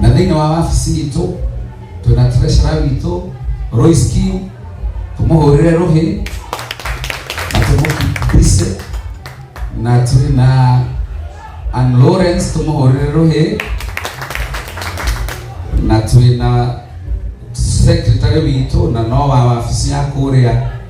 na thĩinĩ wa wabici itũ twĩna treasurer witũ Royce Kim tũmũhũrĩre rũhĩ na tũmũkise na tũrĩ na Ann Lawrence tũmũhũrĩre rũhĩ na twĩna secretary witũ na no wa wabici ya kũrĩa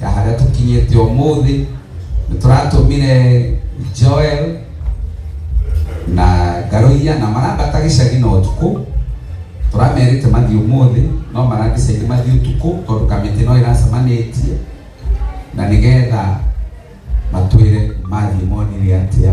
ta harĩa tũkinyĩte ũmũthĩ nĩ tũratũmire Joel na Garoia na marambata gĩcagi na ũtukũ tũramerĩte mathiĩ ũmũthĩ no marandicĩire mathiĩ ũtukũ tondũ kamĩtĩ no ĩracemanĩtie na nĩgetha matwĩre mathiĩ monire atĩa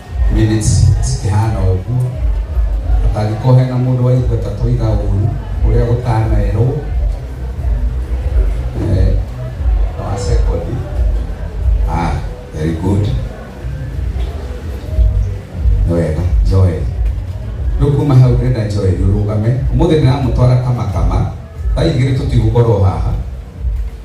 minutes cikĩhana ũguo atangĩkorwo hena mũndũ waigua ta tũiga ũru ũrĩa gũtanerwo eh, wa secondary ah, very good nĩ wega joel rĩu kuma hau ndĩrenda joel ũrũgame ũmũthĩ ndĩramũtwara kamakama thaigĩrĩ tũtigũkorwo haha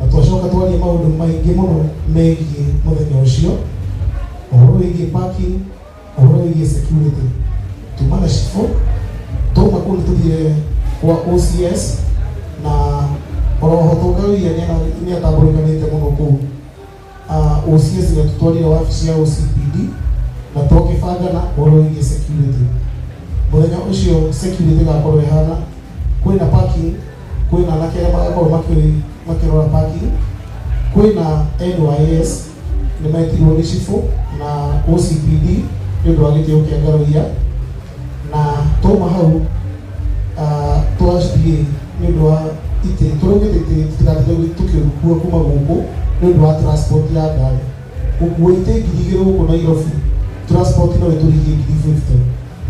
na twacoka twaria maũndũ maingĩ mũno megiĩ mũthenya ũcio ũhoro wĩgiĩ parking ũhoro wĩgiĩ security tuma na cibũ tuma kũu nĩtũthire kwa OCS na oroho tũngawia nĩatambũrĩkanĩte mũno kũu uh, OC cigatũtwarire wabici ya OCPD na tũkĩbanga na ũhoro wĩgiĩ security mũthenya ũcio security ĩgakorwo ĩhana kwĩna parking kwĩna anake arĩa magakorwo makĩ- makĩrora parking kwĩna NYS nĩ metirwo nĩ cibũ na OCPD nĩ ũndũ wa gĩtĩo kĩa ngaroia na twauma hau ah, twacithiĩ nĩ ũndũ wa itĩ tũraugĩte itĩ tũtigatinde tũkĩrukua kuma gũkũ nĩ ũndũ wa transport ya ngari gũkua itĩ ngiri igĩrĩ gũkũ nairobi transport no ĩtũrigie ngiri 50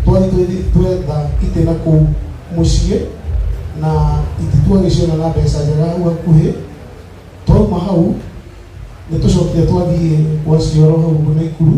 twathiĩ twĩthi- twetha itĩ na kũu mũciĩ na itĩ twagĩciona na mbeca njega hau hakuhĩ twauma hau nĩ tũcokire twathiĩ gwa cioro hau ũguo naikuru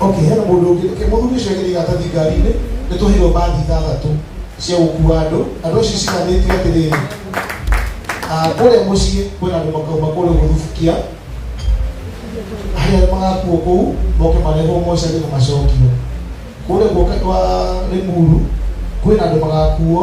okay hena mũndũ ũngĩ okay mũthuri ũcio agĩrĩ gatathi ngari-inĩ nĩ tũheirwo mbathi ithathatũ cia gũkua andũ andũ acio ciganĩtio atĩrĩrĩ Ah, kũrĩa mũciĩ kwĩna andũ makauma kũrĩa gũthubukia harĩa magakuo kũu moke marehwo mocarĩ na macokio kũrĩa guoka kwa rĩmuru kwĩna andũ magakuo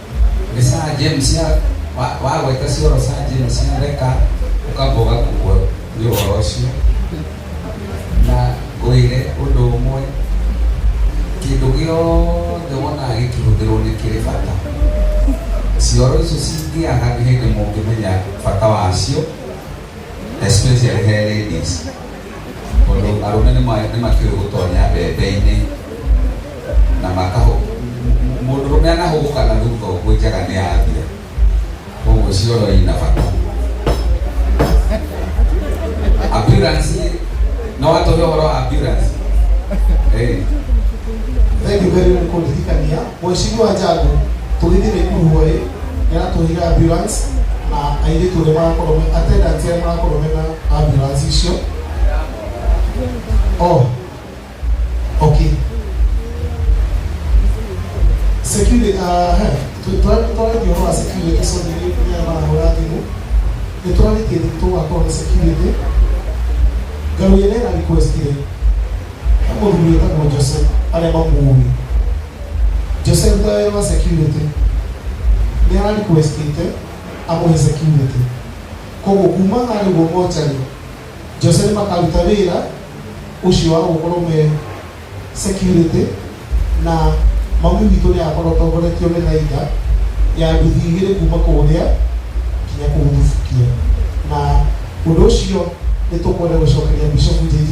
nä sajemu cia wa- wagweta cioro sajemu cia theka ũkamboga kugwo nä ũhoro ũcio na ngwĩre ũndũ ũmwe kĩndũ gĩothe wonaga gĩkĩhũthĩrwo nĩ kĩrĩ bata cioro icio cingĩaga nĩ hĩndĩ mũngĩmenya bata wacio especially he ladies tondũ arũme nĩ ma- nĩ makĩũĩ gũtonya mbembe-inĩ na makahũ mũndũrũme anahũgũka na thutha ũguo njaga nĩ yathia koguo cioro ina bata ambulance no watonya ũhoro wa ambulance Eh. Thank you very much kũndirikania Mheshimiwa Njagu, tũgĩthiĩ Naikuru hwaĩ nĩaratũhire ambulance na airĩtu ũrĩa marakorwo me attendant arĩa marakorwo mena ambulance icio oh okay security uh, tũrarĩtie ũhoro wa security soni nĩya marahũra thimũ nĩ tũrarĩtie tũgakorwo na security ngarũire nena request rĩ mũthuri wĩtagwo jose arĩa mamuũĩ jose ruta wĩra wa security nĩ ara requestĩte amũhe security koguo kuma harĩ guo mocarĩ jose nĩ makaruta wĩra ũcio wa gũkorwo me security na mami witũ nĩ agakorwo atongoretio nĩ thaitha ya nduthi igĩrĩ kuma kũrĩa nginya kũu thubukia na ũndũ ũcio nĩ tũkwenda gũcokeria bishopu jj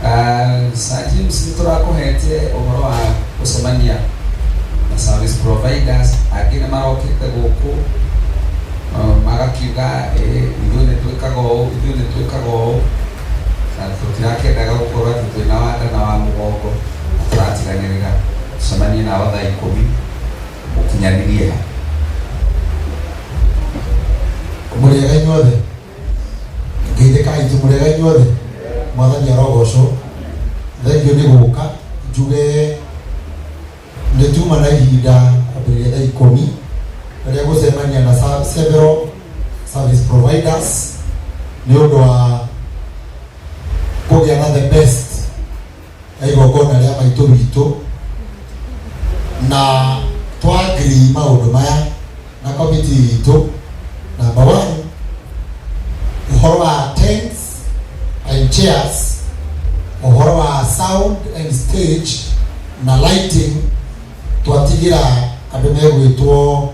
Uh, Sir James nĩ tũrakũhete ũhoro wa gũcemania na service providers angĩ nĩ marokĩte gũkũ uh, magakiuga eh, ithuĩ nĩ twĩkaga ũũ ithuĩ nĩ twĩkaga ũũ na tũtirakĩendaga gũkorwo atĩ twĩna wa nda na wa mũgongo na tũratiganĩrĩra cemanie nao thaa ikũmi mũkinyanĩrie ha mũrĩega inyuothe ngeithĩkai njimũrega inyuothe mwathani arogocwo thengiũ nĩ gũka njuge nĩ tuma na ihinda kwambĩrĩria thaa ikũmi rĩrĩa gũcemania na sa- several service providers nĩ ũndũ wa kũgĩa na the best ya igongona rĩa maitũ witũ na twagiri maũndũ maya na komiti witũ namba one ũhoro wa tents and chairs ũhoro wa sound and stage na lighting twatigĩra andũ megwĩtwo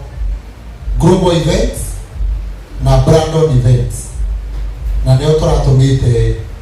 global events na brandon events na nĩo tũratũmĩte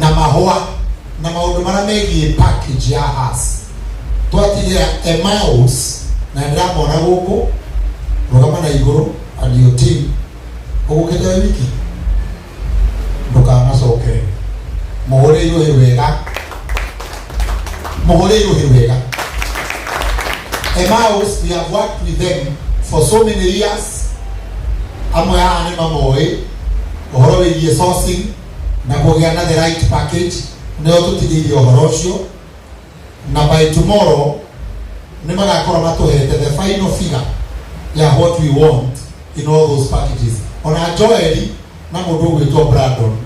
na mahũa na maũndũ marĩa megiĩ package ya has twatigĩra emaus na ndĩramona gũkũ rũgama na igũrũ and your team ũgũkĩte wĩ wiki ndũkanacokere mũhũre irũhĩ wega mũhũre irũhĩ wega emaus we have worked with them for so many years amwe haha nĩ mamoĩ ũhoro wĩgiĩ sourcing na kũgĩa na the right package nĩo tũtigĩire ũhoro ũcio na by tomorrow nĩ magakorwo matũhete the final figure ya what we want in all those packages ona joeli na mũndũ ũgwĩtwo brandon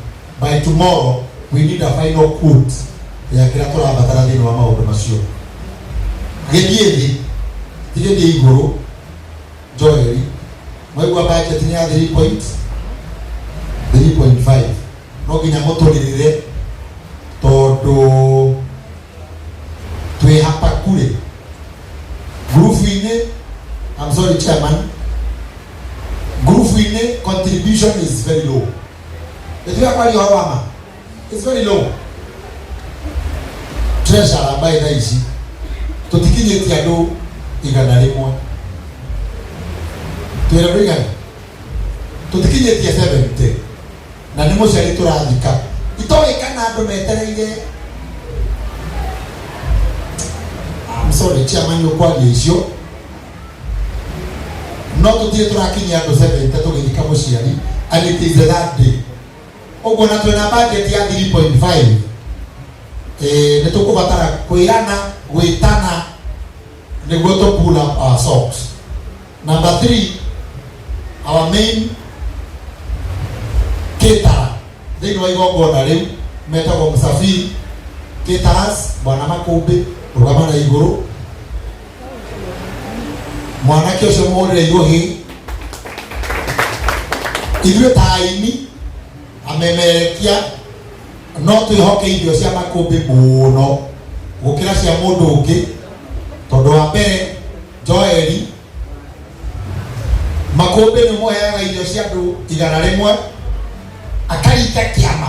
by tomorrow we need a final quote ya kĩrĩa tũrabatara thĩinĩ wa maũndũ macio gĩthiĩ thĩ gĩthiĩ igũrũ Joeli. Mwaigua budget ni ya 3 point 3.5. No nginya mũtũrĩrĩre tondũ twĩ hapa kule grupu-inĩ I'm sorry chairman grupu-inĩ contribution is very low. Nĩtuya kwaria ũhoro wa ma it's very low treasure ambaye thaa ici tũtikinyĩtie andũ igana rĩmwe twĩra andũ igana tũtikinyĩtie 70 na nĩ mũciari tũrathika itoĩ kana andũ metereire I'm sorry chairman nĩũkwaria icio no tũtirĩ tũrakinyia andũ 70 tũgĩthika mũciari and it is the last day ũguo na twĩna bajeti ya 3.5 eh, nĩ tũkũbatara kwĩrana gwĩtana nĩguo tũ pull up our socks number 3 our main kitara thĩinĩ wa igongona rĩu metagwo msafiri kitaras bwana makũmbĩ rũgama na igũrũ mwanake ũcio mũrĩre iũhĩ ithuĩ ta aini amemerekia no twĩhoke irio cia makũmbĩ mũno gũkĩra cia mũndũ ũngĩ tondũ wa mbere joeli makũmbĩ nĩ mũheaga irio cia andũ igana rĩmwe akarita kĩama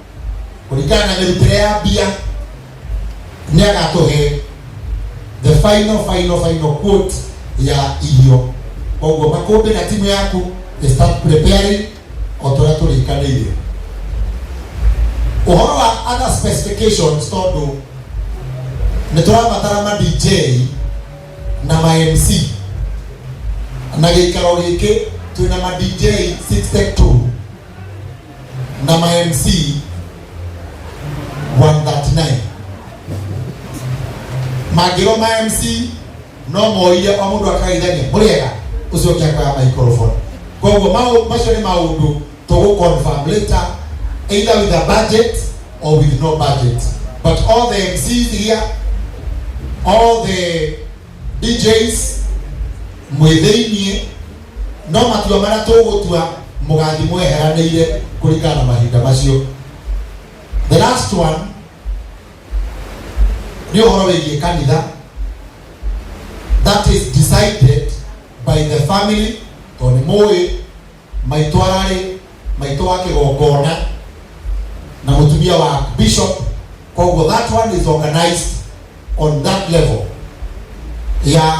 kũringana na mĩrutĩre ya mbia nĩ agatũhe the final final final quote ya irio koguo makũmbĩ na timu yaku they start preparing o tũrĩa tũrĩkanĩire ũhoro wa other specifications tondũ nĩ tũrabatara ma dj na ma mc na gĩikaro gĩkĩ twĩna ma dj 62 na ma MC 139 mangĩrwo ma MC no moire o mũndũ akageithania mũrĩega ũcio ũngĩ akoya microphone koguo mau- macio nĩ maũndũ tũgũ confirm later either with a budget or with no budget but all the MCs here all the DJs mwĩ thĩiniĩ no matua marĩa tũgũtua mũgathiĩ mweheranĩire kũringana na mahinda macio the last one nĩ ũhoro wĩgiĩ kanitha that is decided by the family tondũ nĩ mũĩ maitũ ararĩ maitũ wa kĩgongona na mũtumia wa bishop koguo that one is organized on that level ya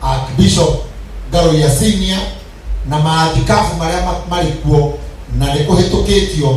archbishop ngaroria senior na maathikabu marĩa ma- marĩ kuo na nĩ kũhĩtũkĩtio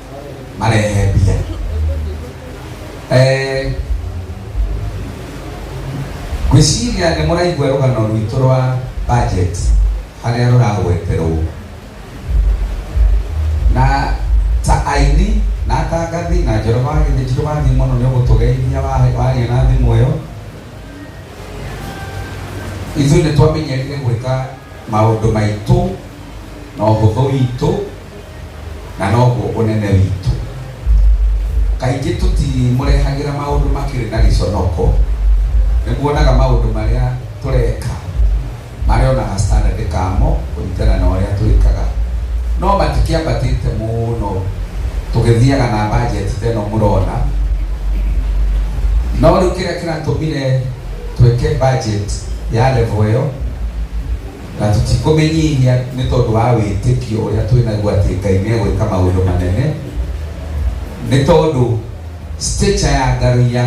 marehe mbia Eh, ngwĩciria nĩ mũraigua rũgano rwitũ rwa budget harĩa rũragweterwo na ta aini na atangathi na njoroba gĩthĩnjiro wathiĩ mũno nĩ ũgũtũgeithia wa- waria na thimũ ĩyo ithuĩ nĩ twamenyerire gwĩka maũndũ maitũ na ũhũthũ witũ na noguo ũnene witũ kaingĩ tũtimũrehagĩra maũndũ makĩrĩ na gĩconoko nĩkuonaga maũndũ marĩa tũreka marĩa onaga standard kamo kũringana na ũrĩa twĩkaga no matikĩambatĩte mũno tũgĩthiaga na budget teno mũrona no rĩu kĩrĩa kĩratũmire twĩke budget ya level ĩyo Na tũtikũmĩnyihia nĩ tondũ wa wĩtĩkio ũrĩa twĩ naguo atĩ Ngai nĩ egwĩka maũndũ manene, nĩ tondũ stature ya Ngaruiya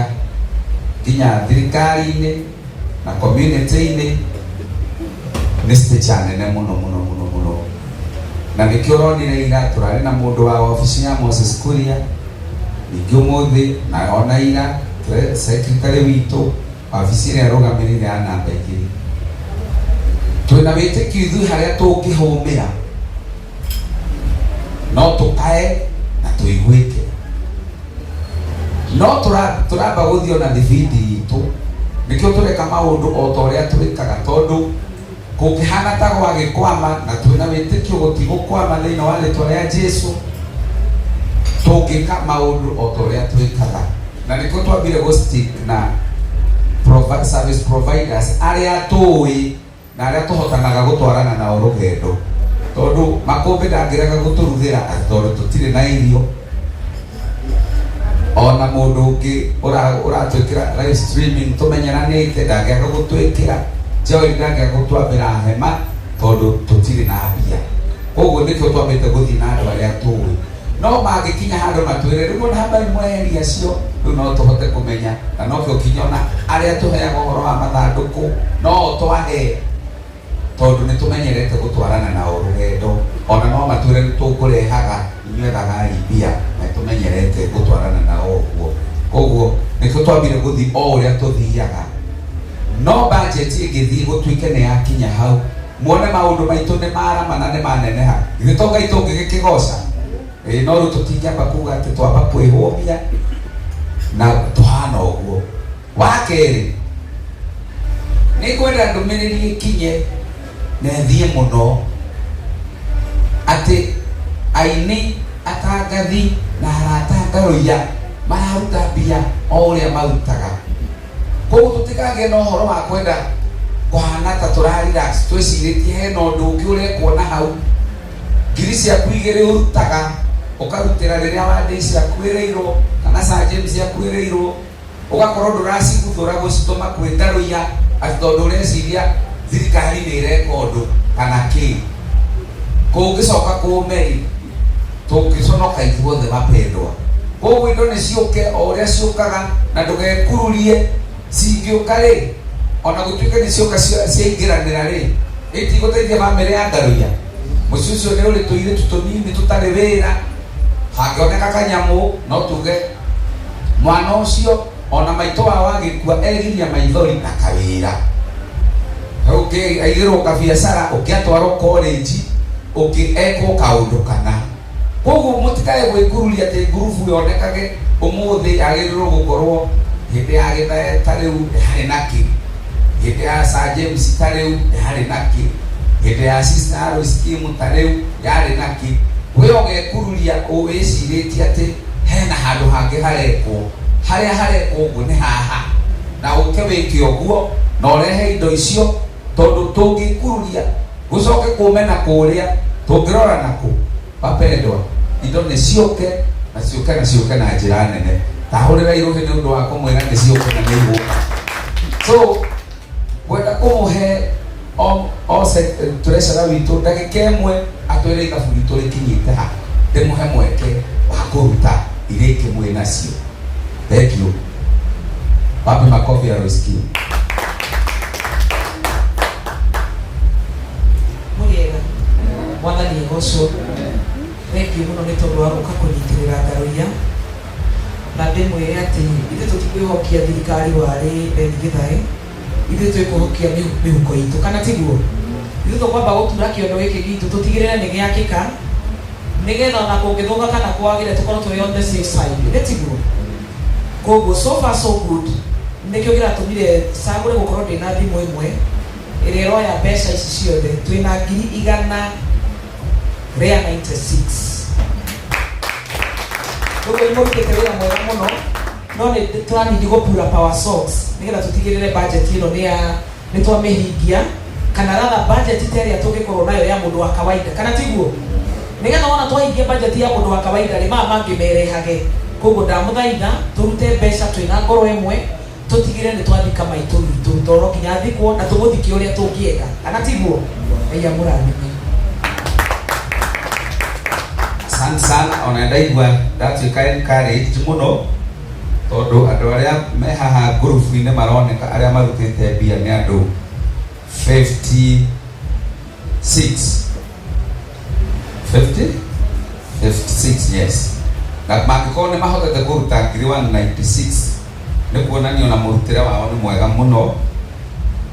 nginya thirikari-inĩ na community-inĩ nĩ stature nene mũno mũno mũno mũno, na nĩkĩo ũronire ira tũrarĩ na mũndũ wa wabici ya Moses Kuria, ningĩ ũmũthĩ na ona ira secretary witũ Wabici ĩrĩa ĩrũgamĩrĩire ya namba igĩrĩ. Twĩna wĩtĩkio ithuĩ harĩa tũngĩhũmĩra no tũkae na tũiguĩke no tũra- tũramba gũthiĩ ona thibindi itũ nĩkĩo tũreka maũndũ o ta ũrĩa twĩkaga tondũ Kũngĩhana ta gwagĩkwama na twĩna wĩtĩkio gũtigũkwama thĩinĩ wa rĩtwa rĩa Jesu, tũngĩka maũndũ o ta ũrĩa twĩkaga na nĩkĩo twambire gũ stick na provi- service providers arĩa tũĩ na arĩa tũhotanaga gũtwarana nao rũgendo tondũ makũmbĩ ndangĩrega gũtũruthĩra tondũ tũtirĩ na irio ona mundu ungi uratwikira live streaming tumenyeranite ndangĩaga gũtwĩkĩra joy ndangĩaga gũtwambĩra hema tondũ tũtirĩ na mbia koguo nĩkĩo twambĩte gũthiĩ na andũ arĩa tũĩ no mangĩkinya handũ matwĩre rĩu ona hambai mweheria acio rĩu no tũhote kũmenya na nokĩo kinya ona arĩa tũheaga ũhoro wa mathandũkũ no o twahe tondũ nĩ tũmenyerete gũtwarana nao rũgendo, ona no matwĩre nĩ tũkũrehaga inyuĩ thagari mbia, na nĩ tũmenyerete gũtwarana nao ũguo. Kwoguo nĩkĩo twambire gũthiĩ o ũrĩa tũthiaga, no budget ĩngĩthiĩ gũtuĩke nĩ yakinya hau, muone maũndũ maitũ nĩ marama na nĩ maneneha, githĩ to Ngai tũngĩgĩkĩgoca? Ĩĩ, no rĩu tũtingĩamba kuuga atĩ twamba kwĩhũmia na tũhana ũguo. wa kerĩ nĩ ngwenda ndũmĩrĩri ĩkinye na ĩthiĩ mũno atĩ aini atangathi na arata ngarũiya mararuta mbia o ũrĩa marutaga koguo tũtikagĩa na ũhoro wa kwenda kũhana ta tũrarelax twĩcirĩtie hena ũndũ ũngĩ ũrekwo na hau ngiri ciaku igĩrĩ ũrutaga ũkarutĩra rĩrĩa wandĩ ciakuĩrĩirwo kana sa james akuĩrĩirwo Ũgakorwo ndũraciguthũra gũcitũma kwĩ ngarũ ya atĩ tondũ ũreciria thirikari nĩ ĩreka ũndũ kana kĩĩ. Kũngĩcoka kũũme-rĩ, tũngĩconoka ithuothe mapendwa. Kwoguo indo nĩ ciũke o ũrĩa ciũkaga na ndũgekururie. Cingĩũka-rĩ, o na gũtuĩka nĩ cioka ciaingĩranĩra-rĩ, itigũteithia bamĩrĩ ya ngarũ ya. Mũciĩ ũcio nĩ ũrĩ tũirĩtu tũnini tũtarĩ wĩra. hangĩoneka kanyamũ no tuge mwana ũcio ona maitũ wao agĩkua egiria maithori na kawĩra ũngĩ aigĩrwo kabiacara ũngĩ atwarwo koleji ũngĩ ekwo kaũndũ kana koguo mũtikae gwĩkururia atĩ ngurubu yonekage ũmũthĩ yagĩrĩirwo gũkorwo hĩndĩ ya gĩthae ta rĩu harĩ na kĩ hĩndĩ ya Sir James ta rĩu yarĩ na kĩ hĩndĩ ya Sister Alois Kim ta rĩu yarĩ na kĩ we ũgekururia ũwĩcirĩtie atĩ hena handũ hangĩ harekwo harĩa harekwo ũguo nĩ haha na ũke wĩke ũguo na ũrehe indo icio tondũ tũngĩkururia gũcoke kũmena kũrĩa tũngĩrora nakũ Mapendwa, indo nĩ ciũke na ciũke na ciũke na njĩra nene. Tahũrĩra irũhĩ nĩ ũndũ wa kũmwĩra nĩ ciũke na nĩ igũka. So, kwenda kũmũhe o- o se- tũrecera witũ ndagĩka ĩmwe atwĩre ithabu ritũ rĩkinyĩte ha ndĩmũhe mweke wa kũruta irĩki mwĩ nacio. Thengiũ. Wapi makofi ya Roskio? Muriega. Mwana ni Yehoshua. Thank you muno nĩ tondũ wa gũka kũnyitĩrĩra ngaroria na ndĩmwĩre atĩ ithuĩ tũtikwĩhokia thirikari warĩ Beni Gĩthae ithuĩ twĩkũhokia mĩhu- mĩhuko itũ kana tiguo ithuĩ tũkwamba gũtura kĩondo gĩkĩ gitũ tũtigĩrĩre nĩ gĩakĩka nĩgetha ona kũngĩthũka kana kwagĩre tũkorwo twĩ on the safe side nĩ tiguo koguo so far so good nĩkĩo kĩratũmire cagũre gũkorwo ndĩna thimũ ĩmwe ĩrĩa ĩroya mbeca ici ciothe twĩna ngiri igana rĩa 96 koguo nĩ mũrutĩte wĩra mwega mũno no nĩ tũranindi gũpura power socks nĩgetha tũtigĩrĩre budget ĩno nĩ ya nĩ twamĩhingia kana ratha bajeti ta ĩrĩa tũngĩkorwo nayo ya mũndũ wa kawaida kana tiguo nĩgetha wona twahingia bajeti ya mũndũ wa kawaida rĩ maya mangĩ merehage koguo ndamũthaitha tũrute mbeca twĩna ngoro ĩmwe tũtigĩre nĩ twathika maitũ witũ toro nginya thikwo na tũmũthike ũrĩa tũngĩenda kana tiguo ngai amũrathime asante sana ona ndaigua ndatuĩka encouraged mũno Tondũ andũ arĩa me haha ngurubu-inĩ maroneka arĩa marutĩte mbia nĩ andũ 56 50 56 yes na mangĩkorwo nĩ mahotete kũruta ngiri 196 nĩ kuonania na mũrutĩre wao nĩ mwega mũno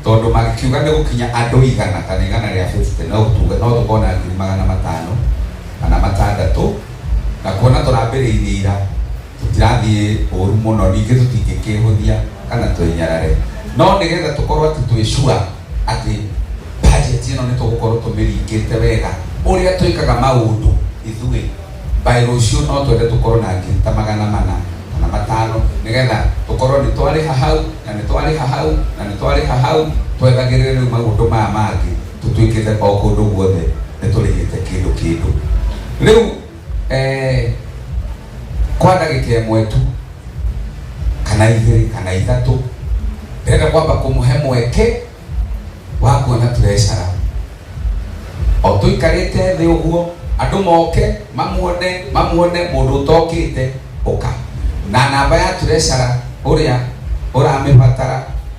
tondũ magĩkiuga nĩ gũkinya andũ igana kana igana rĩa 50 no tuge no tũkona ngiri magana matano kana matandatũ na kuona tũrambĩrĩirie ira tũtirathiĩ ũru mũno ningĩ tũtingĩkĩhũthia kana twĩnyarare no nĩgetha tũkorwo atĩ twĩ sure atĩ bajeti ĩno nĩ tũgũkorwo tũmĩringĩte wega ũrĩa twĩkaga maũndũ ithuĩ by rũciũ no twende tũkorwo na ngiri ta magana mana kana matano nĩgetha tũkorwo nĩ twarĩha hau na nĩ twarĩha hau na nĩ twarĩha hau twethagĩrĩre rĩu maũndũ maya mangĩ tũtuĩkĩte o kũndũ guothe nĩ tũrĩhĩte kĩndũ kĩndũ rĩu eh, kwa ndagika imwe tu kana igiri kana ithatu ndĩrenda kwamba kũmũhe mweke wa kuona tũrecara o tũikarĩte thĩ ũguo andũ moke mamuone mamuone mũndũ ũtokĩte ũka na namba ya tũrecara ũrĩa ũramĩbatara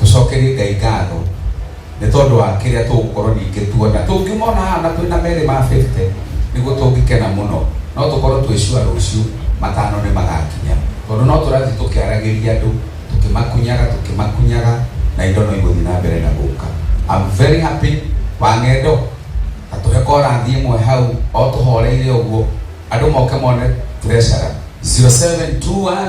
tũcokerie ngai ngatho nĩ tondũ wa kĩrĩa tũgũkorwo ningĩ tuona tũngĩmona haha na twĩna merĩ ma 50 nĩguo tũngĩkena mũno no tũkorwo twĩcua rũciũ matano nĩ magakinya tondũ no tũrathiĩ tũkĩaragĩria andũ tũkĩmakunyaga tũkĩmakunyaga na indo no igũthiĩ na mbere na gũka I'm very happy wang'endo atũhe korathi ĩmwe hau o tũhoreire ũguo andũ moke mone treasure 0721